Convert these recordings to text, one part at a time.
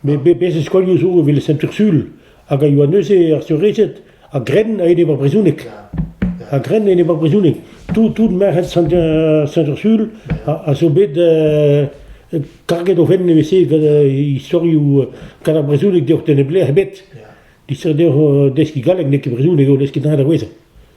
Met bez' e skolioù zo evel Sent-Ursul hag a yoa neuze ar seurezed a-grenn a-enep ar brezhoneg. A-grenn a-enep ar brezhoneg. Tout, tout merc'hed Sent-Ursul a, zo bet karget o fenn evel-se gant istorioù gant ar brezhoneg deoc'h da neblec'h ebet. Distret deoc'h deskiñ galleg n'eo ket brezhoneg eo lesket da c'hwezhañ.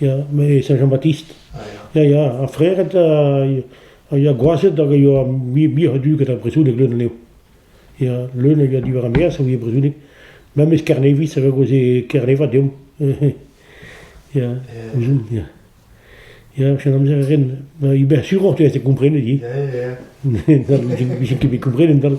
Ya, me Saint-Jean-Baptiste. Ya, ya, ar Frered a ya gwazed hag a yoa muioc'h a dud gant ar brezhoneg leun anezho. Ya, leun a yoa diwar ar maez a ouie brezhoneg. Memes Kerneviz a vegoze Kernev deomp. ya, ouzhomp, ya. Ya, chom amzer a ren. Ibersuroñ te a komprenet, hi. Vije ket bet komprenet dal.